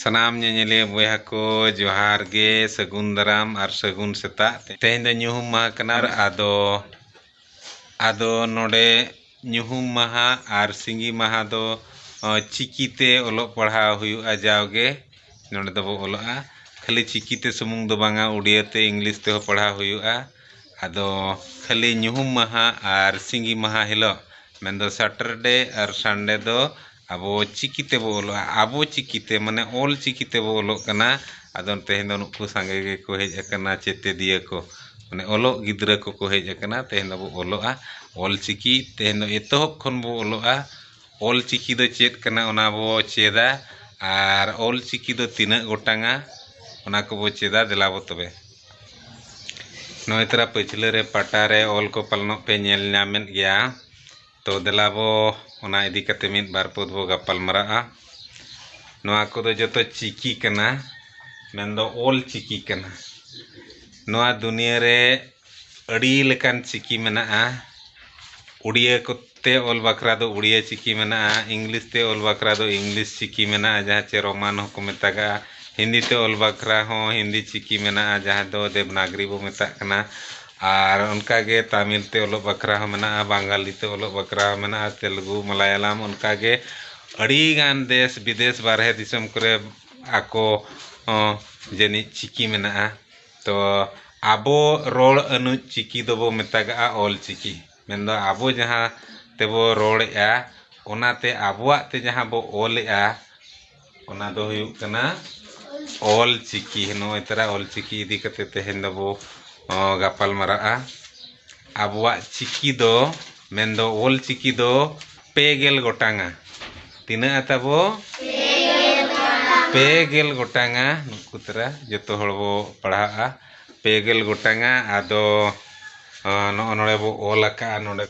ᱥᱟᱱᱟᱢ ᱧᱮᱧᱮᱞᱤᱭᱟᱹ ᱵᱚᱭᱦᱟ ᱠᱚ ᱡᱚᱦᱟᱨ ᱜᱮ ᱥᱟᱹᱜᱩᱱ ᱫᱟᱨᱟᱢ ᱟᱨ ᱥᱟᱹᱜᱩᱱ ᱥᱮᱛᱟᱜ ᱛᱮᱦᱮᱧ ᱫᱚ ᱧᱩᱦᱩᱢ ᱢᱟᱦᱟ ᱠᱟᱱᱟ ᱟᱫᱚ ᱟᱫᱚ ᱱᱚᱰᱮ ᱧᱩᱦᱩᱢ ᱢᱟᱦᱟ ᱟᱨ ᱥᱤᱸᱜᱤ ᱢᱟᱦᱟ ᱫᱚ ᱪᱤᱠᱤ ᱛᱮ ᱚᱞᱚᱜ ᱯᱟᱲᱦᱟᱣ ᱦᱩᱭᱩᱜᱼᱟ ᱡᱟᱣ ᱜᱮ ᱱᱚᱰᱮ ᱫᱚᱵᱚ ᱚᱞᱚᱜᱼᱟ ᱠᱷᱟᱹᱞᱤ ᱪᱤᱠᱤ ᱛᱮ ᱥᱩᱢᱩᱝ ᱫᱚ ᱵᱟᱝᱟ ᱩᱰᱤᱭᱟᱹ ᱛᱮ ᱤᱝᱞᱤᱥ ᱛᱮ ᱦᱚᱸ ᱯᱟᱲᱦᱟᱣ ᱦᱩᱭᱩᱜᱼᱟ ᱟᱫᱚ ᱠᱷᱟᱹᱞᱤ ᱧᱩᱦᱩᱢ ᱢᱟᱦᱟ ᱟᱨ ᱥᱤᱸᱜᱤ ᱢᱟᱦᱟ ᱦᱤᱞᱳᱜ ᱢᱮᱱ ᱫᱚ ᱥᱟᱴᱚᱨᱰᱮ ᱟᱨ ᱥᱟᱱᱰᱮ ᱫᱚ ᱟᱵᱚ ᱪᱤᱠᱤ ᱛᱮᱵᱚ ᱚᱞᱚᱜᱼᱟ ᱟᱵᱚ ᱪᱤᱠᱤ ᱛᱮ ᱢᱟᱱᱮ ᱚᱞ ᱪᱤᱠᱤ ᱛᱮᱵᱚ ᱚᱞᱚᱜ ᱠᱟᱱᱟ ᱟᱫᱚ ᱛᱮᱦᱮᱧ ᱫᱚ ᱱᱩᱠᱩ ᱥᱟᱸᱜᱮ ᱜᱮᱠᱚ ᱦᱮᱡ ᱟᱠᱟᱱᱟ ᱥᱮᱪᱮᱫᱤᱭᱟᱹ ᱠᱚ ᱢᱟᱱᱮ ᱚᱞᱚᱜ ᱜᱤᱫᱽᱨᱟᱹ ᱠᱚᱠᱚ ᱦᱮᱡ ᱟᱠᱟᱱᱟ ᱛᱮᱦᱮᱧ ᱫᱚᱵᱚ ᱚᱞᱚᱜᱼᱟ ᱚᱞ ᱪᱤᱠᱤ ᱛᱮᱦᱮᱧ ᱫᱚ ᱮᱛᱚᱦᱚᱵ ᱠᱷᱚᱱ ᱵᱚ ᱚᱞᱚᱜᱼᱟ ᱚᱞ ᱪᱤᱠᱤ ᱫᱚ ᱪᱮᱫ ᱠᱟᱱᱟ ᱚᱱᱟ ᱵᱚ ᱪᱮᱫᱟ ᱟᱨ ᱚᱞ ᱪᱤᱠᱤ ᱫᱚ ᱛᱤᱱᱟᱹᱜ ᱜᱚᱴᱟᱝᱟ ᱚᱱᱟ ᱠᱚᱵᱚ ᱪᱮᱫᱟ ᱫᱮᱞᱟ ᱵᱚ ᱛᱚᱵᱮ ᱱᱚᱜᱼᱚᱭ ᱛᱚᱨᱟ ᱯᱟᱹᱪᱷᱞᱟᱹ ᱨᱮ ᱯᱟᱴᱟ ᱨᱮ ᱚᱞ ᱠᱚ ᱯᱟᱞᱚᱱᱚᱜ ᱯᱮ ᱧᱮᱞ ᱧᱟᱢᱮᱫ ᱜᱮᱭᱟ ᱛᱚ ᱫᱮᱞᱟ ᱵᱚ ᱚᱱᱟ ᱤᱫᱤ ᱠᱟᱛᱮ ᱢᱤᱫ ᱵᱟᱨ ᱯᱚᱫ ᱵᱚ ᱜᱟᱯᱟᱞ ᱢᱟᱨᱟᱜᱼᱟ ᱱᱚᱣᱟ ᱠᱚᱫᱚ ᱡᱚᱛᱚ ᱪᱤᱠᱤ ᱠᱟᱱᱟ ᱢᱮᱱᱫᱚ ᱚᱞ ᱪᱤᱠᱤ ᱠᱟᱱᱟ ᱱᱚᱣᱟ ᱫᱩᱱᱤᱭᱟᱹ ᱨᱮ ᱟᱹᱰᱤ ᱞᱮᱠᱟᱱ ᱪᱤᱠᱤ ᱢᱮᱱᱟᱜᱼᱟ ᱩᱰᱤᱭᱟᱹ ᱠᱚᱛᱮ ᱚᱞ ᱵᱟᱠᱷᱨᱟ ᱫᱚ ᱩᱰᱤᱭᱟᱹ ᱪᱤᱠᱤ ᱢᱮᱱᱟᱜᱼᱟ ᱤᱝᱞᱤᱥ ᱛᱮ ᱚᱞ ᱵᱟᱠᱷᱨᱟ ᱫᱚ ᱤᱝᱞᱤᱥ ᱪᱤᱠᱤ ᱢᱮᱱᱟᱜᱼᱟ ᱡᱟᱦᱟᱸ ᱪᱮ ᱨᱳᱢᱟᱱ ᱦᱚᱸᱠᱚ ᱢᱮᱛᱟᱜᱟᱜᱼᱟ ᱦᱤᱱᱫᱤ ᱛᱮ ᱚᱞ ᱵᱟᱠᱷᱨᱟ ᱦᱚᱸ ᱦᱤᱱᱫᱤ ᱪᱤᱠᱤ ᱢᱮᱱᱟᱜᱼᱟ ᱡᱟᱦᱟᱸ ᱫᱚ ᱫᱮᱵᱽᱱᱟᱜᱽᱨᱤ ᱵᱚ ᱢᱮᱛᱟᱜ ᱠᱟᱱᱟ ᱟᱨ ᱚᱱᱠᱟ ᱜᱮ ᱛᱟᱢᱤᱞ ᱛᱮ ᱚᱞᱚᱜ ᱵᱟᱠᱷᱨᱟ ᱦᱚᱸ ᱢᱮᱱᱟᱜᱼᱟ ᱵᱟᱝᱜᱟᱞᱤ ᱛᱮ ᱚᱞᱚᱜ ᱵᱟᱠᱷᱨᱟ ᱦᱚᱸ ᱢᱮᱱᱟᱜᱼᱟ ᱛᱮᱞᱮᱜᱩ ᱢᱟᱞᱟᱭᱟᱞᱟᱢ ᱚᱱᱠᱟ ᱜᱮ ᱟᱹᱰᱤ ᱜᱟᱱ ᱫᱮᱥ ᱵᱤᱫᱮᱥ ᱵᱟᱨᱦᱮ ᱫᱤᱥᱚᱢ ᱠᱚᱨᱮ ᱟᱠᱚ ᱦᱚᱸ ᱡᱟᱹᱱᱤᱡ ᱪᱤᱠᱤ ᱢᱮᱱᱟᱜᱼᱟ ᱛᱚ ᱟᱵᱚ ᱨᱚᱲ ᱟᱹᱱᱤᱡ ᱪᱤᱠᱤ ᱫᱚᱵᱚ ᱢᱮᱛᱟᱜᱟᱜᱼᱟ ᱚᱞ ᱪᱤᱠᱤ ᱢᱮᱱ ᱫᱚ ᱟᱵᱚ ᱡᱟᱦᱟᱸ ᱛᱮᱵᱚ ᱨᱚᱲᱮᱜᱼᱟ ᱚᱱᱟᱛᱮ ᱟᱵᱚᱣᱟᱜ ᱛᱮ ᱡᱟᱦᱟᱸ ᱵᱚ ᱚᱞᱮᱜᱼᱟ ᱚᱱᱟ ᱫᱚ ᱦᱩᱭᱩᱜ ᱠᱟᱱᱟ ᱚᱞ ᱪᱤᱠᱤ ᱱᱚᱜᱼᱚᱭ ᱛᱚᱨᱟ ᱚᱞ ᱪᱤᱠᱤ ᱤᱫᱤ ᱠᱟᱛᱮ ᱛᱮᱦᱮᱧ ᱫᱚᱵᱚ ᱜᱟᱯᱟᱞ ᱢᱟᱨᱟᱜᱼᱟ ᱟᱵᱚᱣᱟᱜ ᱪᱤᱠᱤ ᱫᱚ ᱢᱮᱱ ᱫᱚ ᱚᱞ ᱪᱤᱠᱤ ᱫᱚ ᱯᱮ ᱜᱮᱞ ᱜᱚᱴᱟᱝᱟ ᱛᱤᱱᱟᱹᱜᱼᱟ ᱛᱟᱵᱚ ᱯᱮ ᱜᱮᱞ ᱜᱚᱴᱟᱝᱟ ᱱᱩᱠᱩ ᱛᱚᱨᱟ ᱡᱚᱛᱚ ᱦᱚᱲ ᱵᱚ ᱯᱟᱲᱦᱟᱜᱼᱟ ᱯᱮ ᱜᱮᱞ ᱜᱚᱴᱟᱝᱟ ᱟᱫᱚ ᱱᱚᱜᱼᱚ ᱱᱚᱰᱮ ᱵᱚ ᱚᱞ ᱟᱠᱟᱜᱼᱟ ᱱᱚᱰᱮ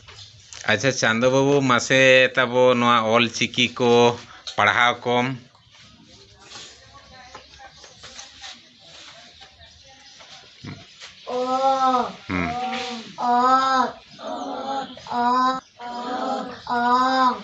ᱟᱪᱪᱷᱟ ᱪᱟᱸᱫᱚ ᱵᱟᱹᱵᱩ ᱢᱟᱥᱮ ᱛᱟᱵᱚ ᱱᱚᱣᱟ ᱚᱞ ᱪᱤᱠᱤ ᱠᱚ ᱯᱟᱲᱦᱟᱣ ᱠᱚᱢ ᱦᱩᱸ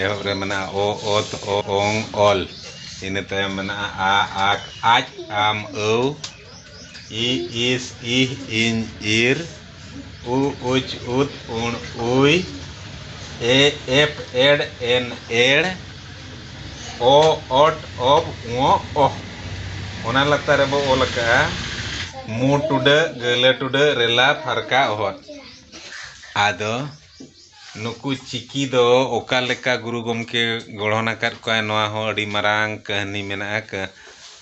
ᱮᱦᱚᱵ ᱨᱮ ᱢᱮᱱᱟᱜᱼᱟ ᱚ ᱚᱛ ᱚᱝ ᱚᱞ ᱤᱱᱟᱹ ᱛᱟᱭᱚᱢ ᱢᱮᱱᱟᱜᱼᱟ ᱟ ᱟᱠ ᱟᱡ ᱟᱢ ᱟᱹᱣ ᱤ ᱤᱥ ᱤᱦ ᱤᱧ ᱤᱨ ᱩ ᱩᱪ ᱩᱫ ᱩᱬ ᱩᱭ ᱮ ᱮᱯ ᱮᱰ ᱮᱱ ᱮᱲ ᱚ ᱚᱴ ᱚᱵ ᱚᱸᱜ ᱚᱦ ᱚᱱᱟ ᱞᱟᱛᱟᱨ ᱨᱮᱵᱚ ᱚᱞ ᱟᱠᱟᱫᱼᱟ ᱢᱩ ᱴᱩᱰᱟᱹᱜ ᱜᱟᱹᱞᱟᱹ ᱴᱩᱰᱟᱹᱜ ᱨᱮᱞᱟ ᱯᱷᱟᱨᱠᱟ ᱚᱦᱚᱫ ᱟᱫᱚ ᱱᱩᱠᱩ ᱪᱤᱠᱤ ᱫᱚ ᱚᱠᱟ ᱞᱮᱠᱟ ᱜᱩᱨᱩ ᱜᱚᱢᱠᱮ ᱜᱚᱲᱦᱚᱱ ᱟᱠᱟᱫ ᱠᱚᱣᱟᱭ ᱱᱚᱣᱟ ᱦᱚᱸ ᱟᱹᱰᱤ ᱢᱟᱨᱟᱝ ᱠᱟᱹᱦᱱᱤ ᱢᱮᱱᱟᱜᱼᱟ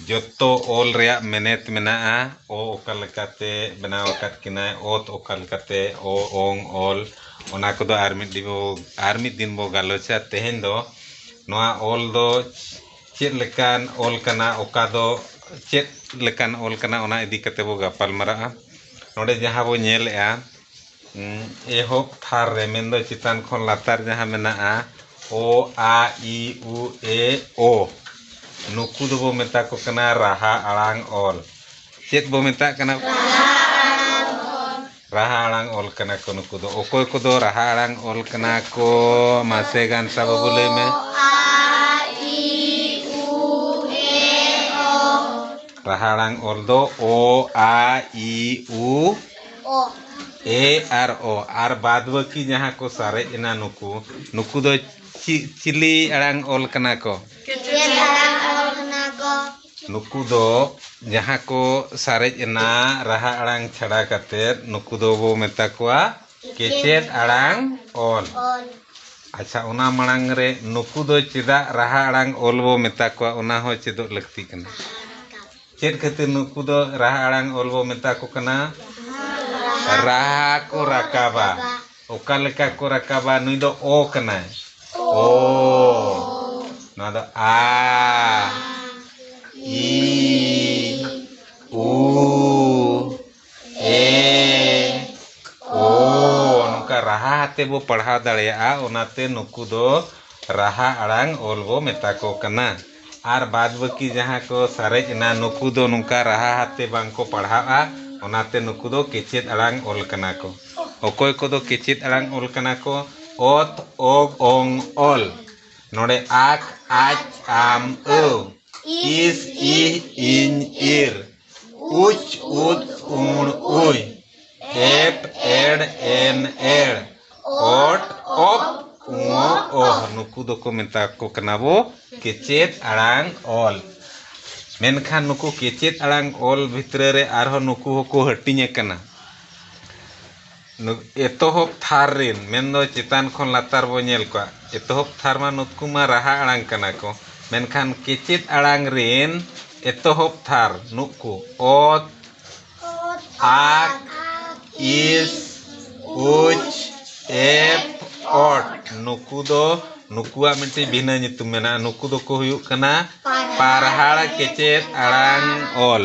ᱡᱚᱛᱚ ᱚᱞ ᱨᱮᱭᱟᱜ ᱢᱮᱱᱮᱛ ᱢᱮᱱᱟᱜᱼᱟ ᱚ ᱚᱠᱟ ᱞᱮᱠᱟᱛᱮ ᱵᱮᱱᱟᱣ ᱟᱠᱟᱫ ᱠᱤᱱᱟᱭ ᱚᱛ ᱚᱠᱟ ᱞᱮᱠᱟᱛᱮ ᱚ ᱚᱝ ᱚᱞ ᱚᱱᱟ ᱠᱚᱫᱚ ᱟᱨ ᱢᱤᱫ ᱫᱤᱱ ᱵᱚ ᱟᱨ ᱢᱤᱫ ᱫᱤᱱ ᱵᱚ ᱜᱟᱞᱚᱪᱟ ᱛᱮᱦᱮᱧ ᱫᱚ ᱱᱚᱣᱟ ᱚᱞ ᱫᱚ ᱪᱮᱫ ᱞᱮᱠᱟᱱ ᱚᱞ ᱠᱟᱱᱟ ᱚᱠᱟ ᱫᱚ ᱪᱮᱫ ᱞᱮᱠᱟᱱ ᱚᱞ ᱠᱟᱱᱟ ᱚᱱᱟ ᱤᱫᱤ ᱠᱟᱛᱮᱫ ᱵᱚ ᱜᱟᱯᱟᱞ ᱢᱟᱨᱟᱜᱼᱟ ᱱᱚᱰᱮ ᱡᱟᱦᱟᱸ ᱵᱚ ᱧᱮᱞᱮᱜᱼᱟ ᱮᱦᱚᱵ ᱛᱷᱟᱨ ᱨᱮ ᱢᱮᱱᱫᱚ ᱪᱮᱛᱟᱱ ᱠᱷᱚᱱ ᱞᱟᱛᱟᱨ ᱡᱟᱦᱟᱸ ᱢᱮᱱᱟᱜᱼᱟ ᱚ ᱟ ᱤ ᱩ ᱮ ᱳ ᱱᱩᱠᱩ ᱫᱚᱵᱚ ᱢᱮᱛᱟ ᱠᱚ ᱠᱟᱱᱟ ᱨᱟᱦᱟ ᱟᱲᱟᱝ ᱚᱞ ᱪᱮᱫ ᱵᱚ ᱢᱮᱛᱟᱜ ᱠᱟᱱᱟ ᱨᱟᱦᱟ ᱟᱲᱟᱝ ᱚᱞ ᱠᱟᱱᱟ ᱠᱚ ᱱᱩᱠᱩ ᱫᱚ ᱚᱠᱚᱭ ᱠᱚᱫᱚ ᱨᱟᱦᱟ ᱟᱲᱟᱝ ᱚᱞ ᱠᱟᱱᱟ ᱠᱚ ᱢᱟᱥᱮ ᱜᱟᱱᱥᱟ ᱵᱟᱹᱵᱩ ᱞᱟᱹᱭ ᱢᱮ ᱨᱟᱦᱟ ᱟᱲᱟᱝ ᱚᱞ ᱫᱚ ᱚ ᱟ ᱤ ᱩ ᱮ ᱟᱨ ᱚ ᱟᱨ ᱵᱟᱫᱽ ᱵᱟᱹᱠᱤ ᱡᱟᱦᱟᱸ ᱠᱚ ᱥᱟᱨᱮᱡ ᱮᱱᱟ ᱱᱩᱠᱩ ᱱᱩᱠᱩ ᱫᱚ ᱪᱮᱫ ᱪᱤᱞᱤ ᱟᱲᱟᱝ ᱚᱞ ᱠᱟᱱᱟ ᱠᱚ? ᱪᱮᱫ ᱟᱲᱟᱝ ᱚᱞ ᱠᱟᱱᱟ ᱠᱚ? ᱱᱩᱠᱩ ᱫᱚ ᱡᱟᱦᱟᱸ ᱠᱚ ᱥᱟᱨᱮᱡ ᱮᱱᱟ ᱨᱟᱦᱟ ᱟᱲᱟᱝ ᱪᱷᱟᱰᱟ ᱠᱟᱛᱮ ᱱᱩᱠᱩ ᱫᱚ ᱵᱚ ᱢᱮᱛᱟ ᱠᱚᱣᱟ ᱠᱮᱪᱮᱫ ᱟᱲᱟᱝ ᱚᱞ᱾ ᱟᱪᱪᱷᱟ ᱚᱱᱟ ᱢᱟᱲᱟᱝ ᱨᱮ ᱱᱩᱠᱩ ᱫᱚ ᱪᱮᱫᱟᱜ ᱨᱟᱦᱟ ᱟᱲᱟᱝ ᱚᱞ ᱵᱚ ᱢᱮᱛᱟ ᱠᱚᱣᱟ ᱚᱱᱟ ᱦᱚᱸ ᱪᱮᱫᱚᱜ ᱞᱟᱹᱠᱛᱤ ᱠᱟᱱᱟ᱾ ᱪᱮᱫ ᱠᱷᱟᱹᱛᱤᱨ ᱱᱩᱠᱩ ᱫᱚ ᱨᱟᱦᱟ ᱟᱲᱟᱝ ᱚᱞ ᱵᱚ ᱢᱮᱛᱟ ᱠᱚ ᱠᱟᱱᱟ? ᱨᱟᱦᱟ ᱠᱚ ᱨᱟᱠᱟᱵᱟ᱾ ᱚᱠᱟ ᱞᱮᱠᱟ ᱠᱚ ᱨᱟᱠᱟᱵᱟ? ᱱᱩᱭ ᱫᱚ ᱚ ᱠᱟᱱᱟᱭ᱾ ᱚ᱾ ᱱᱚᱣᱟ ᱫᱚ ᱟ, ᱤ, ᱩ᱾ ᱮ ᱳ ᱱᱚᱝᱠᱟ ᱨᱟᱦᱟ ᱟᱛᱮ ᱵᱚ ᱯᱟᱲᱦᱟᱣ ᱫᱟᱲᱮᱭᱟᱜᱼᱟ ᱚᱱᱟᱛᱮ ᱱᱩᱠᱩ ᱫᱚ ᱨᱟᱦᱟ ᱟᱲᱟᱝ ᱚᱞ ᱵᱚ ᱢᱮᱛᱟ ᱠᱚ ᱠᱟᱱᱟ ᱟᱨ ᱵᱟᱫᱽ ᱵᱟᱹᱠᱤ ᱡᱟᱦᱟᱸ ᱠᱚ ᱥᱟᱨᱮᱡ ᱮᱱᱟ ᱱᱩᱠᱩ ᱫᱚ ᱱᱚᱝᱠᱟ ᱨᱟᱦᱟ ᱟᱛᱮ ᱵᱟᱝ ᱠᱚ ᱯᱟᱲᱦᱟᱜᱼᱟ ᱚᱱᱟᱛᱮ ᱱᱩᱠᱩ ᱫᱚ ᱠᱮᱪᱮᱫ ᱟᱲᱟᱝ ᱚᱞ ᱠᱟᱱᱟ ᱠᱚ ᱚᱠᱚᱭ ᱠᱚᱫᱚ ᱠᱮᱪᱮᱫ ᱟᱲᱟᱝ ᱚᱞ ᱠᱟᱱᱟ ᱠᱚ ᱚᱛ ᱚᱜ ᱚᱝ ᱚᱞ ᱱᱚᱰᱮ ᱟᱠ ᱟᱡ ᱟᱢ ᱟᱹᱣ ᱤᱥ ᱤᱦ ᱤᱧ ᱤᱨ ᱩᱪ ᱩᱫ ᱩᱬ ᱩᱭ ᱮᱯ ᱮᱲ ᱮᱱ ᱮᱲ ᱚᱴ ᱚᱯ ᱩᱚ ᱚᱦ ᱱᱩᱠᱩ ᱫᱚᱠᱚ ᱢᱮᱛᱟ ᱠᱚ ᱠᱟᱱᱟ ᱵᱚ ᱠᱮᱪᱮᱫ ᱟᱲᱟᱝ ᱚᱞ ᱢᱮᱱᱠᱷᱟᱱ ᱱᱩᱠᱩ ᱠᱮᱪᱮᱫ ᱟᱲᱟᱝ ᱚᱞ ᱵᱷᱤᱛᱨᱤ ᱨᱮ ᱟᱨᱦᱚᱸ ᱱᱩᱠᱩ ᱦᱚᱸᱠᱚ ᱦᱟᱹᱴᱤᱧ ᱟᱠᱟᱱᱟ ᱮᱛᱚᱦᱚᱵ ᱛᱷᱟᱨ ᱨᱤᱱ ᱢᱮᱱᱫᱚ ᱪᱮᱛᱟᱱ ᱠᱷᱚᱱ ᱞᱟᱛᱟᱨ ᱵᱚ ᱧᱮᱞ ᱠᱚᱣᱟ ᱮᱛᱚᱦᱚᱵ ᱛᱷᱟᱨ ᱢᱟ ᱱᱩᱛᱠᱩ ᱢᱟ ᱨᱟᱦᱟ ᱟᱲᱟᱝ ᱠᱟᱱᱟ ᱠᱚ ᱢᱮᱱᱠᱷᱟᱱ ᱠᱮᱪᱮᱫ ᱟᱲᱟᱝ ᱨᱤᱱ ᱮᱛᱚᱦᱚᱵ ᱛᱷᱟᱨ ᱱᱩᱠᱩ ᱚᱛ ᱟᱠ ᱤᱥ ᱩᱪ ᱮᱯᱷ ᱚᱴ ᱱᱩᱠᱩ ᱫᱚ ᱱᱩᱠᱩᱣᱟᱜ ᱢᱤᱫᱴᱤᱡ ᱵᱷᱤᱱᱟᱹ ᱧᱩᱛᱩᱢ ᱢᱮᱱᱟᱜᱼᱟ ᱱᱩᱠᱩ ᱫᱚᱠᱚ ᱦᱩᱭᱩᱜ ᱠᱟᱱᱟ ᱯᱟᱨᱦᱟᱲ ᱠᱮᱪᱮᱫ ᱟᱲᱟᱝ ᱚᱞ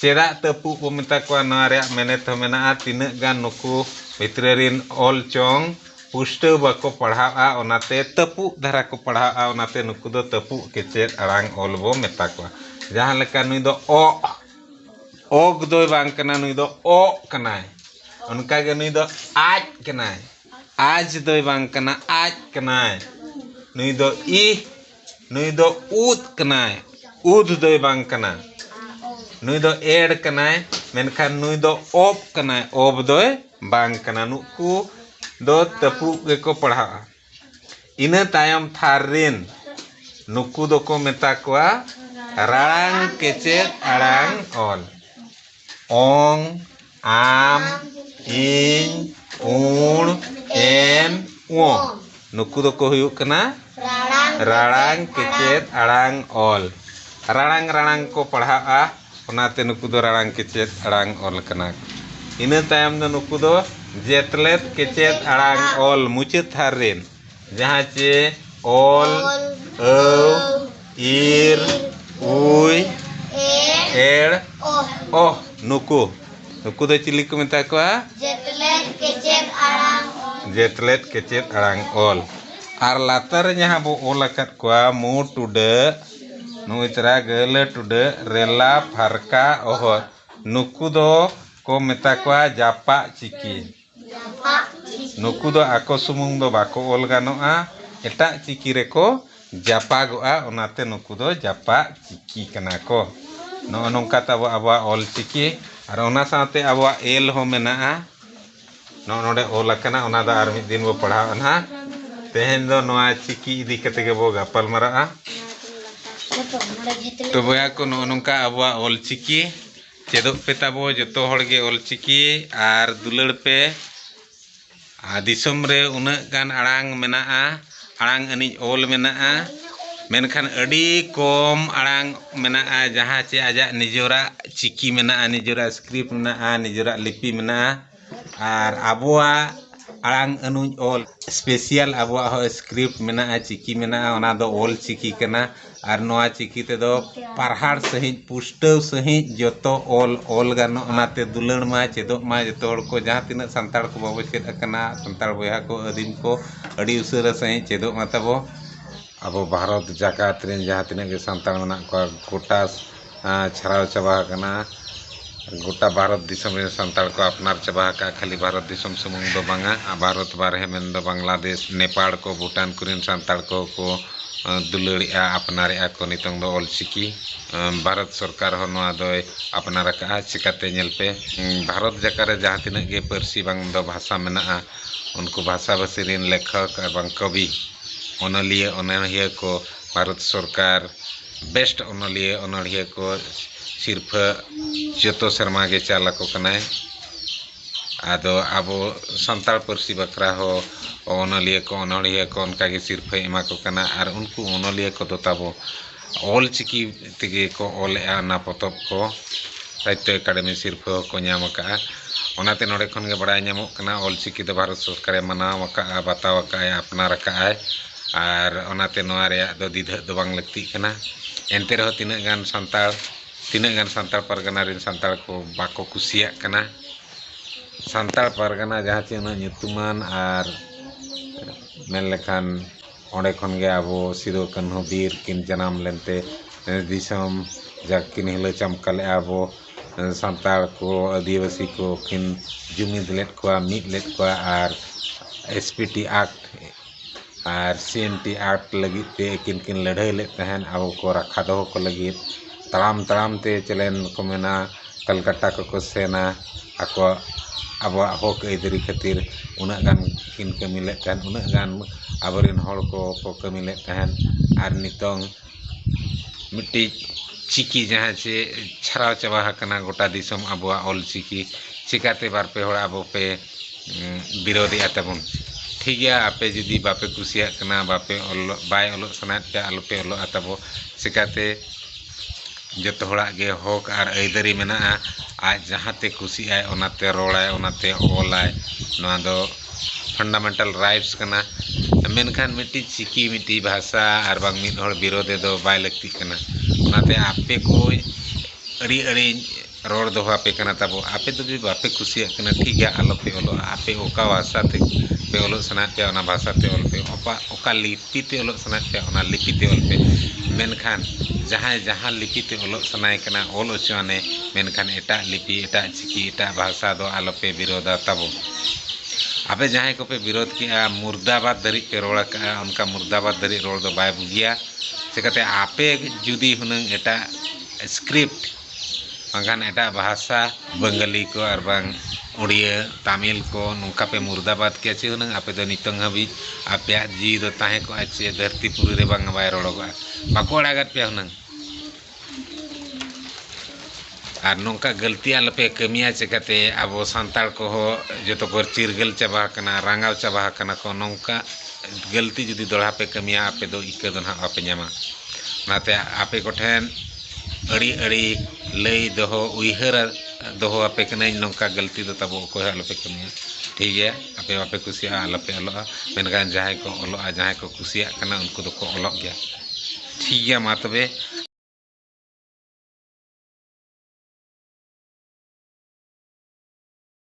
ᱪᱮᱫᱟᱜ ᱛᱟᱹᱯᱩᱜ ᱵᱚ ᱢᱮᱛᱟ ᱠᱚᱣᱟ ᱱᱚᱣᱟ ᱨᱮᱭᱟᱜ ᱢᱮᱱᱮᱛ ᱦᱚᱸ ᱢᱮᱱᱟᱜᱼᱟ ᱛᱤᱱᱟᱹᱜ ᱜᱟᱱ ᱱᱩᱠᱩ ᱵᱷᱤᱛᱨᱟᱹ ᱨᱤᱱ ᱚᱞ ᱪᱚᱝ ᱯᱩᱥᱴᱟᱹᱣ ᱵᱟᱠᱚ ᱯᱟᱲᱦᱟᱣᱜᱼᱟ ᱚᱱᱟᱛᱮ ᱛᱟᱹᱯᱩᱜ ᱫᱷᱟᱨᱟ ᱠᱚ ᱯᱟᱲᱦᱟᱣᱜᱼᱟ ᱚᱱᱟᱛᱮ ᱱᱩᱠᱩ ᱫᱚ ᱛᱟᱹᱯᱩᱜ ᱠᱮᱪᱮᱫ ᱟᱲᱟᱝ ᱚᱞ ᱵᱚ ᱢᱮᱛᱟ ᱠᱚᱣᱟ ᱡᱟᱦᱟᱸ ᱞᱮᱠᱟ ᱱᱩᱭ ᱫᱚ ᱚᱜ ᱚᱜᱽ ᱫᱚᱭ ᱵᱟᱝ ᱠᱟᱱᱟ ᱱᱩᱭ ᱫᱚ ᱚᱜ ᱠᱟᱱᱟᱭ ᱚᱱᱠᱟ ᱜᱮ ᱱᱩᱭ ᱫᱚ ᱟᱡ ᱠᱟᱱᱟᱭ ᱟᱡᱽ ᱫᱚᱭ ᱵᱟᱝ ᱠᱟᱱᱟ ᱟᱡᱽ ᱠᱟᱱᱟᱭ ᱱᱩᱭ ᱫᱚ ᱤᱦ ᱱᱩᱭ ᱫᱚ ᱩᱫ ᱠᱟᱱᱟᱭ ᱩᱫ ᱫᱚᱭ ᱵᱟᱝ ᱠᱟᱱᱟ ᱱᱩᱭ ᱫᱚ ᱮᱰ ᱠᱟᱱᱟᱭ ᱢᱮᱱᱠᱷᱟᱱ ᱱᱩᱭ ᱫᱚ ᱚᱯ ᱠᱟᱱᱟᱭ ᱚᱯ ᱫᱚᱭ ᱵᱟᱝ ᱠᱟᱱᱟ ᱱᱩᱠᱩ ᱫᱚ ᱛᱟᱹᱯᱩᱜ ᱜᱮᱠᱚ ᱯᱟᱲᱦᱟᱜᱼᱟ ᱤᱱᱟᱹ ᱛᱟᱭᱚᱢ ᱛᱷᱟᱨ ᱨᱤᱱ ᱱᱩᱠᱩ ᱫᱚᱠᱚ ᱢᱮᱛᱟ ᱠᱚᱣᱟ ᱨᱟᱲᱟᱝ ᱠᱮᱪᱮᱫ ᱟᱲᱟᱝ ᱚᱞ ᱚᱝ ᱟᱢ ᱤᱧ ᱩᱬ ᱮᱱ ᱚ ᱱᱩᱠᱩ ᱫᱚᱠᱚ ᱦᱩᱭᱩᱜ ᱠᱟᱱᱟ ᱨᱟᱲᱟᱝ ᱠᱮᱪᱮᱫ ᱟᱲᱟᱝ ᱚᱞ ᱨᱟᱲᱟᱝ ᱨᱟᱲᱟᱝ ᱠᱚ ᱯᱟᱲᱦᱟᱜᱼᱟ ᱚᱱᱟᱛᱮ ᱱᱩᱠᱩ ᱫᱚ ᱨᱟᱲᱟᱝ ᱠᱮᱪᱮᱫ ᱟᱲᱟᱝ ᱚᱞ ᱠᱟᱱᱟ ᱠᱚ ᱤᱱᱟᱹ ᱛᱟᱭᱚᱢ ᱫᱚ ᱱᱩᱠᱩ ᱫᱚ ᱡᱮᱛᱞᱮᱫ ᱠᱮᱪᱮᱫ ᱟᱲᱟᱝ ᱚᱞ ᱢᱩᱪᱟᱹᱫ ᱛᱷᱟᱨ ᱨᱮᱱ ᱡᱟᱦᱟᱸ ᱪᱮ ᱚᱞ ᱟᱹᱣ ᱤᱨ ᱩᱭ ᱮᱲ ᱚᱦ ᱱᱩᱠᱩ ᱱᱩᱠᱩ ᱫᱚ ᱪᱤᱞᱤ ᱠᱚ ᱢᱮᱛᱟ ᱠᱚᱣᱟ ᱡᱮᱛᱞᱮᱫ ᱠᱮᱪᱮᱫ ᱟᱲᱟᱝ ᱚᱞ ᱡᱮᱛᱞᱮᱫ ᱠᱮᱪᱮᱫ ᱟᱲᱟᱝ ᱚᱞ ᱟᱨ ᱞᱟᱛᱟᱨ ᱨᱮ ᱡᱟᱦᱟᱸ ᱵᱚ ᱚᱞ ᱟᱠᱟᱫ ᱠᱚᱣᱟ ᱢᱩ ᱴᱩᱰᱟᱹᱜ ᱱᱩᱭ ᱛᱟᱨᱟ ᱜᱟᱹᱞᱟᱹ ᱴᱩᱰᱟᱹᱜ ᱨᱮᱞᱟ ᱯᱷᱟᱨᱠᱟ ᱚᱦᱚᱫ ᱱᱩᱠᱩ ᱫᱚ ᱠᱚ ᱢᱮᱛᱟ ᱠᱚᱣᱟ ᱡᱟᱯᱟᱜ ᱪᱤᱠᱤ ᱱᱩᱠᱩ ᱫᱚ ᱟᱠᱚ ᱥᱩᱢᱩᱝ ᱫᱚ ᱵᱟᱠᱚ ᱚᱞ ᱜᱟᱱᱚᱜᱼᱟ, ᱮᱴᱟᱜ ᱪᱤᱠᱤ ᱨᱮᱠᱚ ᱡᱟᱯᱟᱜᱚᱜᱼᱟ, ᱚᱱᱟᱛᱮ ᱱᱩᱠᱩ ᱫᱚ ᱡᱟᱯᱟᱜ ᱪᱤᱠᱤ ᱠᱟᱱᱟ ᱠᱚ᱾ ᱱᱚᱜᱼᱚ ᱱᱚᱝᱠᱟ ᱛᱟᱵᱚ ᱟᱵᱚᱣᱟᱜ ᱚᱞ ᱪᱤᱠᱤ ᱟᱨ ᱚᱱᱟ ᱥᱟᱶᱛᱮ ᱟᱵᱚᱣᱟᱜ ᱮᱞ ᱦᱚᱸ ᱢᱮᱱᱟᱜᱼᱟ᱾ ᱱᱚᱜᱼᱚ ᱱᱚᱰᱮ ᱚᱞ ᱟᱠᱟᱱᱟ, ᱚᱱᱟ ᱫᱚ ᱟᱨ ᱢᱤᱫ ᱫᱤᱱ ᱵᱚ ᱯᱟᱲᱦᱟᱣᱜᱼᱟ ᱱᱟᱦᱟᱜ᱾ ᱛᱮᱦᱮᱧ ᱫᱚ ᱱᱚᱣᱟ ᱪᱤᱠᱤ ᱤᱫᱤ ᱠᱟᱛᱮ ᱜᱮᱵᱚ ᱜᱟᱯᱟᱞ ᱢᱟᱨᱟᱜᱼᱟ᱾ ᱛᱚ ᱵᱚᱭᱦᱟ ᱠᱚ ᱱᱚᱜᱼᱚ ᱱᱚᱝᱠᱟ ᱟᱵᱚᱣᱟᱜ ᱚᱞ ᱪᱤᱠᱤ ᱪᱮᱫᱚᱜ ᱯᱮ ᱛᱟᱵᱚ ᱡᱚᱛᱚ ᱦᱚᱲ ᱜᱮ ᱚᱞ ᱪᱤᱠᱤ ᱟᱨ ᱫᱩᱞᱟᱹᱲ ᱯᱮ ᱟᱨ ᱫᱤᱥᱚᱢ ᱨᱮ ᱩᱱᱟᱹᱜ ᱜᱟᱱ ᱟᱲᱟᱝ ᱢᱮᱱᱟᱜᱼᱟ ᱟᱲᱟᱝ ᱟᱹᱱᱤᱡ ᱚᱞ ᱢᱮᱱᱟᱜᱼᱟ ᱢᱮᱱᱠᱷᱟᱱ ᱟᱹᱰᱤ ᱠᱚᱢ ᱟᱲᱟᱝ ᱢᱮᱱᱟᱜᱼᱟ ᱡᱟᱦᱟᱸ ᱪᱮ ᱟᱡᱟᱜ ᱱᱤᱡᱚᱨᱟᱜ ᱪᱤᱠᱤ ᱢᱮᱱᱟᱜᱼᱟ ᱱᱤᱡᱚᱨᱟᱜ ᱥᱠᱨᱤᱯᱴ ᱢᱮᱱᱟᱜᱼᱟ ᱱᱤᱡᱚᱨᱟᱜ ᱞᱤᱯᱤ ᱢᱮᱱᱟᱜᱼᱟ ᱟᱨ ᱟᱵᱚᱣᱟᱜ ᱟᱲᱟᱝ ᱟᱹᱱᱩᱡ ᱚᱞ ᱥᱯᱮᱥᱤᱭᱟᱞ ᱟᱵᱚᱣᱟᱜ ᱦᱚᱸ ᱥᱠᱨᱤᱯᱴ ᱢᱮᱱᱟᱜᱼᱟ ᱪᱤᱠᱤ ᱢᱮᱱᱟᱜᱼᱟ ᱚᱱᱟ ᱫᱚ ᱚᱞ ᱪᱤᱠᱤ ᱠᱟᱱᱟ ᱟᱨ ᱱᱚᱣᱟ ᱪᱤᱠᱤ ᱛᱮᱫᱚ ᱯᱟᱨᱦᱟᱲ ᱥᱟᱺᱦᱤᱡ ᱯᱩᱥᱴᱟᱹᱣ ᱥᱟᱺᱦᱤᱡ ᱡᱚᱛᱚ ᱚᱞ ᱚᱞ ᱜᱟᱱᱚᱜᱼᱟ ᱚᱱᱟᱛᱮ ᱫᱩᱞᱟᱹᱲ ᱢᱟ ᱪᱮᱫᱚᱜ ᱢᱟ ᱡᱚᱛᱚ ᱦᱚᱲ ᱠᱚ ᱡᱟᱦᱟᱸ ᱛᱤᱱᱟᱹᱜ ᱥᱟᱱᱛᱟᱲ ᱠᱚ ᱵᱟᱵᱚ ᱪᱮᱫ ᱟᱠᱟᱱᱟ ᱥᱟᱱᱛᱟᱲ ᱵᱚᱭᱦᱟ ᱠᱚ ᱟᱹᱫᱤᱢ ᱠᱚ ᱟᱹᱰᱤ ᱩᱥᱟᱹᱨᱟ ᱥᱟᱺᱦᱤᱡ ᱪᱮᱫᱚᱜ ᱢᱟ ᱛᱟᱵᱚ ᱟᱵᱚ ᱵᱷᱟᱨᱚᱛ ᱡᱟᱠᱟᱛ ᱨᱮᱱ ᱡᱟᱦᱟᱸ ᱛᱤᱱᱟᱹᱜ ᱜᱮ ᱥᱟᱱᱛᱟᱲ ᱢᱮᱱᱟᱜ ᱠᱚᱣᱟ ᱜᱳᱴᱟ ᱪᱷᱟᱨᱟᱣ ᱪᱟᱵᱟ ᱟᱠᱟᱱᱟ ᱜᱚᱴᱟ ᱵᱷᱟᱨᱚᱛ ᱫᱤᱥᱚᱢ ᱨᱮᱱ ᱥᱟᱱᱛᱟᱲ ᱠᱚ ᱟᱯᱱᱟᱨ ᱪᱟᱵᱟ ᱟᱠᱟᱫᱼᱟ ᱠᱷᱟᱹᱞᱤ ᱵᱷᱟᱨᱚᱛ ᱫᱤᱥᱚᱢ ᱥᱩᱢᱩᱝ ᱫᱚ ᱵᱟᱝᱟ ᱵᱷᱟᱨᱚᱛ ᱵᱟᱨᱦᱮ ᱢᱮᱱ ᱫᱚ ᱵᱟᱝᱞᱟᱫᱮᱥ ᱱᱮᱯᱟᱲ ᱠᱚ ᱵᱷᱩᱴᱟᱱ ᱠᱚᱨᱮᱱ ᱥᱟᱱᱛᱟᱲ ᱠᱚ ᱠᱚ ᱫᱩᱞᱟᱹᱲᱮᱫᱼᱟ ᱟᱯᱱᱟᱨᱮᱫᱼᱟ ᱠᱚ ᱱᱤᱛᱚᱝ ᱫᱚ ᱚᱞ ᱪᱤᱠᱤ ᱵᱷᱟᱨᱚᱛ ᱥᱚᱨᱠᱟᱨ ᱦᱚᱸ ᱱᱚᱣᱟ ᱫᱚᱭ ᱟᱯᱱᱟᱨ ᱟᱠᱟᱫᱼᱟ ᱪᱤᱠᱟᱹᱛᱮ ᱧᱮᱞ ᱯᱮ ᱵᱷᱟᱨᱚᱛ ᱡᱟᱠᱟᱛ ᱨᱮ ᱡᱟᱦᱟᱸ ᱛᱤᱱᱟᱹᱜ ᱜᱮ ᱯᱟᱹᱨᱥᱤ ᱵᱟᱝ ᱫᱚ ᱵᱷᱟᱥᱟ ᱢᱮᱱᱟᱜᱼᱟ ᱩᱱᱠᱩ ᱵᱷᱟᱥᱟᱼᱵᱷᱟᱥᱤ ᱨᱮᱱ ᱞᱮᱠᱷᱚᱠ ᱟᱨ ᱵᱟᱝ ᱠᱚᱵᱤ ᱚᱱᱚᱞᱤᱭᱟᱹ ᱚᱱᱚᱬᱦᱤᱭᱟᱹ ᱠᱚ ᱵᱷᱟᱨᱚᱛ ᱥᱚᱨᱠᱟᱨ ᱵᱮᱥᱴ ᱚᱱᱚᱞᱤᱭᱟᱹ ᱚᱱᱚᱬᱦᱤᱭᱟᱹ ᱠᱚ ᱥᱤᱨᱯᱷᱟᱹ ᱡᱚᱛᱚ ᱥᱮᱨᱢᱟ ᱜᱮ ᱪᱟᱞ ᱟᱠᱚ ᱠᱟᱱᱟᱭ ᱟᱫᱚ ᱟᱵᱚ ᱥᱟᱱᱛᱟᱲ ᱯᱟᱹᱨᱥᱤ ᱵᱟᱠᱷᱨᱟ ᱦᱚᱸ ᱚᱱᱚᱞᱤᱭᱟᱹ ᱠᱚ ᱚᱱᱚᱬᱦᱤᱭᱟᱹ ᱠᱚ ᱚᱱᱠᱟ ᱜᱮ ᱥᱤᱨᱯᱷᱟᱹᱭ ᱮᱢᱟ ᱠᱚ ᱠᱟᱱᱟ ᱟᱨ ᱩᱱᱠᱩ ᱚᱱᱚᱞᱤᱭᱟᱹ ᱠᱚᱫᱚ ᱛᱟᱵᱚ ᱚᱞ ᱪᱤᱠᱤ ᱛᱮᱜᱮ ᱠᱚ ᱚᱞᱮᱜᱼᱟ ᱚᱱᱟ ᱯᱚᱛᱚᱵ ᱠᱚ ᱥᱟᱦᱤᱛᱛᱚ ᱮᱠᱟᱰᱮᱢᱤ ᱥᱤᱨᱯᱷᱟᱹ ᱦᱚᱸ ᱠᱚ ᱧᱟᱢ ᱟᱠᱟᱜᱼᱟ ᱚᱱᱟᱛᱮ ᱱᱚᱰᱮ ᱠᱷᱚᱱ ᱜᱮ ᱵᱟᱲᱟᱭ ᱧᱟᱢᱚᱜ ᱠᱟᱱᱟ ᱚᱞ ᱪᱤᱠᱤ ᱫᱚ ᱵᱷᱟᱨᱚᱛ ᱥᱚᱨᱠᱟᱨᱮ ᱢᱟᱱᱟᱣ ᱟᱠᱟᱜᱼᱟ ᱵᱟᱛᱟᱣ ᱟᱠᱟᱜᱼᱟᱭ ᱟᱯᱱᱟᱨ ᱟᱠᱟᱜᱼᱟᱭ ᱟᱨ ᱚᱱᱟᱛᱮ ᱱᱚᱣᱟ ᱨᱮᱭᱟᱜ ᱫᱚ ᱫᱤᱫᱷᱟᱹᱜ ᱫᱚ ᱵᱟᱝ ᱞᱟᱹᱠᱛᱤᱜ ᱠᱟᱱᱟ ᱮᱱᱛᱮ ᱨᱮᱦᱚᱸ ᱛᱤᱱᱟᱹᱜ ᱜᱟᱱ ᱥᱟᱱᱛᱟᱲ ᱛᱤᱱᱟᱹᱜ ᱜᱟᱱ ᱥᱟᱱᱛᱟᱲ ᱯᱟᱨᱜᱟᱱᱟ ᱨᱮᱱ ᱥᱟᱱᱛᱟᱲ ᱠᱚ ᱵᱟᱠᱚ ᱠᱩᱥᱤᱭᱟᱜ ᱠᱟᱱᱟ ᱥᱟᱱᱛᱟᱲ ᱯᱟᱨᱜᱟᱱᱟ ᱡᱟᱦᱟᱸ ᱪᱮ ᱩᱱᱟᱹᱜ ᱧᱩᱛᱩᱢᱟᱱ ᱟᱨ ᱢᱮᱱ ᱞᱮᱠᱷᱟᱱ ᱚᱸᱰᱮ ᱠᱷᱚᱱ ᱜᱮ ᱟᱵᱚ ᱥᱤᱫᱩ ᱠᱟᱹᱱᱦᱩ ᱵᱤᱨ ᱠᱤᱱ ᱡᱟᱱᱟᱢ ᱞᱮᱱᱛᱮ ᱫᱤᱥᱚᱢ ᱡᱟᱠ ᱠᱤᱱ ᱦᱤᱞᱟᱹᱣ ᱪᱟᱢᱠᱟ ᱞᱮᱜᱼᱟ ᱟᱵᱚ ᱥᱟᱱᱛᱟᱲ ᱠᱚ ᱟᱹᱫᱤᱵᱟᱹᱥᱤ ᱠᱚ ᱠᱤᱱ ᱡᱩᱢᱤᱫ ᱞᱮᱫ ᱠᱚᱣᱟ ᱢᱤᱫ ᱞᱮᱫ ᱠᱚᱣᱟ ᱟᱨ ᱮᱥ ᱯᱤ ᱴᱤ ᱟᱠᱴ ᱟᱨ ᱥᱤ ᱮᱱ ᱴᱤ ᱟᱨᱴ ᱞᱟᱹᱜᱤᱫ ᱛᱮ ᱟᱹᱠᱤᱱ ᱠᱤᱱ ᱞᱟᱹᱲᱦᱟᱹᱭ ᱞᱮᱫ ᱛᱟᱦᱮᱸᱫ ᱟᱵᱚ ᱠᱚ ᱨᱟᱠᱷᱟ ᱫᱚᱦᱚ ᱠᱚ ᱞᱟᱹᱜᱤᱫ ᱛᱟᱲᱟᱢ ᱛᱟᱲᱟᱢ ᱛᱮ ᱪᱮᱞᱮᱱ ᱠᱚ ᱢᱮᱱᱟ ᱠᱟᱞᱠᱟᱴᱟ ᱠᱚᱠᱚ ᱥᱮᱱᱟ ᱟᱠᱚᱣᱟᱜ ᱟᱵᱚᱣᱟᱜ ᱦᱚᱸᱠ ᱟᱹᱭᱫᱟᱹᱨᱤ ᱠᱷᱟᱹᱛᱤᱨ ᱩᱱᱟᱹᱜ ᱜᱟᱱ ᱠᱤᱱ ᱠᱟᱹᱢᱤ ᱞᱮᱫ ᱛᱟᱦᱮᱸᱫ ᱩᱱᱟᱹᱜ ᱜᱟᱱ ᱟᱵᱚ ᱨᱮᱱ ᱦᱚᱲ ᱠᱚᱠᱚ ᱠᱟᱹᱢᱤ ᱞᱮᱫ ᱛᱟᱦᱮᱸᱫ ᱟᱨ ᱱᱤᱛᱚᱝ ᱢᱤᱫᱴᱤᱡ ᱪᱤᱠᱤ ᱡᱟᱦᱟᱸ ᱪᱮ ᱪᱷᱟᱨᱟᱣ ᱪᱟᱵᱟ ᱟᱠᱟᱱᱟ ᱜᱚᱴᱟ ᱫᱤᱥᱚᱢ ᱟᱵᱚᱣᱟᱜ ᱚᱞ ᱪᱤᱠᱤ ᱪᱮᱠᱟᱛᱮ ᱵᱟᱨ ᱯᱮ ᱦᱚᱲ ᱟᱵᱚ ᱯᱮ ᱵᱤᱨᱳᱫᱮᱜᱼᱟ ᱛᱟᱵᱚᱱ ᱴᱷᱤᱠ ᱜᱮᱭᱟ ᱟᱯᱮ ᱡᱩᱫᱤ ᱵᱟᱯᱮ ᱠᱩᱥᱤᱭᱟᱜ ᱠᱟᱱᱟ ᱵᱟᱯᱮ ᱚᱞᱚᱜ ᱵᱟᱭ ᱚᱞᱚᱜ ᱥᱟᱱᱟᱭᱮᱫ ᱯᱮᱭᱟ ᱟᱞᱚᱯᱮ ᱚᱞᱚᱜᱼᱟ ᱛᱟᱵᱚ ᱪᱮᱠᱟᱛᱮ ᱡᱚᱛᱚ ᱦᱚᱲᱟᱜ ᱜᱮ ᱦᱚᱸᱠ ᱟᱨ ᱟᱹᱭᱫᱟᱹᱨᱤ ᱢᱮᱱᱟᱜᱼᱟ ᱟᱡ ᱡᱟᱦᱟᱸ ᱛᱮ ᱠᱩᱥᱤᱜ ᱟᱭ ᱚᱱᱟ ᱛᱮ ᱨᱚᱲᱟᱭ ᱚᱱᱟ ᱛᱮ ᱚᱞᱟᱭ ᱱᱚᱣᱟ ᱫᱚ ᱯᱷᱟᱱᱰᱟᱢᱮᱱᱴᱟᱞ ᱨᱟᱭᱤᱴᱥ ᱠᱟᱱᱟ ᱢᱮᱱᱠᱷᱟᱱ ᱢᱤᱫᱴᱤᱡ ᱪᱤᱠᱤ ᱢᱤᱫᱴᱤᱡ ᱵᱷᱟᱥᱟ ᱟᱨ ᱵᱟᱝ ᱢᱤᱫ ᱦᱚᱲ ᱵᱤᱨᱳᱫᱷᱤ ᱫᱚ ᱵᱟᱭ ᱞᱟᱹᱠᱛᱤᱜ ᱠᱟᱱᱟ ᱚᱱᱟᱛᱮ ᱟᱯᱮ ᱠᱚ ᱟᱹᱰᱤ ᱟᱹᱰᱤ ᱨᱚᱲ ᱫᱚᱦᱚ ᱟᱯᱮ ᱠᱟᱱᱟ ᱛᱟᱵᱚ ᱟᱯᱮ ᱫᱚ ᱡᱩᱫᱤ ᱵᱟᱯᱮ ᱠᱩᱥᱤᱭᱟᱜ ᱠᱟᱱᱟ ᱴᱷᱤᱠ ᱜᱮᱭᱟ ᱟᱞᱚ ᱯᱮ ᱚᱞᱚᱜᱼᱟ ᱟᱯᱮ ᱚᱠᱟ ᱵᱷᱟᱥᱟ ᱛᱮ ᱯᱮ ᱚᱞᱚᱜ ᱥᱟᱱᱟᱭᱮᱫ ᱯᱮᱭᱟ ᱚᱱᱟ ᱵᱷᱟᱥᱟ ᱛᱮ ᱚᱞ ᱯᱮ ᱚᱠᱟ ᱚᱠᱟ ᱞᱤᱯᱤ ᱛᱮ ᱚᱞᱚᱜ ᱥᱟᱱᱟᱭᱮᱫ ᱯᱮᱭᱟ ᱚᱱᱟ ᱞᱤᱯᱤ ᱛᱮ ᱚᱞ ᱯᱮ ᱢᱮᱱᱠᱷᱟᱱ ᱡᱟᱦᱟᱸᱭ ᱡᱟᱦᱟᱸ ᱞᱤᱯᱤ ᱛᱮ ᱚᱞᱚᱜ ᱥᱟᱱᱟᱭᱮ ᱠᱟᱱᱟ ᱚᱞ ᱦᱚᱪᱚ ᱟᱱᱮ ᱢᱮᱱᱠᱷᱟᱱ ᱮᱴᱟᱜ ᱞᱤᱯᱤ ᱮᱴᱟᱜ ᱪᱤᱠᱤ ᱮᱴᱟᱜ ᱵᱷᱟᱥᱟ ᱫᱚ ᱟᱞᱚ ᱯᱮ ᱵᱤᱨᱳᱫᱷᱟ ᱛᱟᱵᱚ ᱟᱯᱮ ᱡᱟᱦᱟᱸᱭ ᱠᱚᱯᱮ ᱵᱤᱨᱳᱫᱷ ᱠᱮᱜᱼᱟ ᱢᱩᱨᱫᱟᱵᱟᱫᱽ ᱫᱷᱟᱹᱨᱤᱡ ᱯᱮ ᱨᱚᱲ ᱠᱟᱜᱼᱟ ᱚᱱᱠᱟ ᱢᱩᱨᱫᱟᱵᱟᱫᱽ ᱫᱷᱟᱹᱨᱤᱡ ᱨᱚᱲ ᱫᱚ ᱵᱟᱭ ᱵᱩᱜᱤᱭᱟ ᱪᱤᱠᱟᱹᱛᱮ ᱟᱯᱮ ᱡᱩᱫᱤ ᱦᱩᱱᱟᱹᱝ ᱮᱴᱟᱜ ᱥᱠᱨᱤᱯᱴ ᱵᱟᱝᱠᱷᱟᱱ ᱮᱴᱟᱜ ᱵᱷᱟᱥᱟ ᱵᱟᱝᱜᱟᱞᱤ ᱠᱚ ᱟᱨ ᱵᱟᱝ ᱩᱲᱤᱭᱟᱹ ᱛᱟᱢᱤᱞ ᱠᱚ ᱱᱚᱝᱠᱟ ᱯᱮ ᱢᱩᱨᱫᱟᱵᱟᱫᱽ ᱠᱮᱭᱟ ᱪᱮ ᱦᱩᱱᱟᱹᱝ ᱟᱯᱮ ᱫᱚ ᱱᱤᱛᱚᱝ ᱦᱟᱹᱵᱤᱡ ᱟᱯᱮᱭᱟᱜ ᱡᱤᱣᱤ ᱫᱚ ᱛᱟᱦᱮᱸ ᱠᱚᱜᱼᱟ ᱪᱮ ᱫᱷᱟᱹᱨᱛᱤ ᱯᱩᱨᱤ ᱨᱮ ᱵᱟᱝ ᱵᱟᱭ ᱨᱚᱲᱚᱜᱚᱜᱼᱟ ᱵᱟᱠᱚ ᱟᱲᱟᱜᱟᱫ ᱯᱮᱭᱟ ᱦᱩᱱᱟᱹᱝ ᱟᱨ ᱱᱚᱝᱠᱟ ᱜᱟᱹᱞᱛᱤ ᱟᱞᱚ ᱯᱮ ᱠᱟᱹᱢᱤᱭᱟ ᱪᱤᱠᱟᱹᱛᱮ ᱟᱵᱚ ᱥᱟᱱᱛᱟᱲ ᱠᱚᱦᱚᱸ ᱡᱚᱛᱚ ᱠᱚ ᱪᱤᱨᱜᱟᱹᱞ ᱪᱟᱵᱟ ᱟᱠᱟᱱᱟ ᱨᱟᱸᱜᱟᱣ ᱪᱟᱵᱟ ᱟᱠᱟᱱᱟ ᱠᱚ ᱱᱚᱝᱠᱟ ᱜᱟᱹᱞᱛᱤ ᱡᱩᱫᱤ ᱫᱚᱦᱲᱟ ᱯᱮ ᱠᱟᱹᱢᱤᱭᱟ ᱟᱯᱮ ᱫᱚ ᱤᱠᱟᱹ ᱫᱚ ᱱᱟᱦᱟᱜ ᱵᱟᱯᱮ ᱧᱟᱢᱟ ᱚᱱᱟᱛᱮ ᱟᱯᱮ ᱠᱚᱴᱷᱮᱱ ᱟᱹᱰᱤ ᱟᱹᱰᱤ ᱞᱟᱹᱭ ᱫᱚᱦᱚ ᱩᱭᱦᱟᱹᱨ ᱫᱚᱦᱚ ᱟᱯᱮ ᱠᱟᱹᱱᱟᱹᱧ ᱱᱚᱝᱠᱟ ᱜᱟᱹᱞᱛᱤ ᱫᱚ ᱛᱟᱵᱚ ᱚᱠᱚᱭ ᱦᱚᱸ ᱟᱞᱚᱯᱮ ᱠᱟᱹᱢᱤᱭᱟ ᱴᱷᱤᱠ ᱜᱮᱭᱟ ᱟᱯᱮ ᱵᱟᱯᱮ ᱠᱩᱥᱤᱭᱟᱜᱼᱟ ᱟᱞᱚᱯᱮ ᱚᱞᱚᱜᱼᱟ ᱢᱮᱱᱠᱷᱟᱱ ᱡᱟᱦᱟᱸᱭ ᱠᱚ ᱚᱞᱚᱜᱼᱟ ᱡᱟᱦᱟᱸᱭ ᱠᱚ ᱠᱩᱥᱤᱭᱟᱜ ᱠᱟᱱᱟ ᱩᱱᱠᱩ ᱫᱚᱠᱚ ᱚᱞᱚᱜ ᱜᱮᱭᱟ ᱴᱷᱤᱠ ᱜᱮᱭᱟ ᱢᱟ ᱛᱚᱵᱮ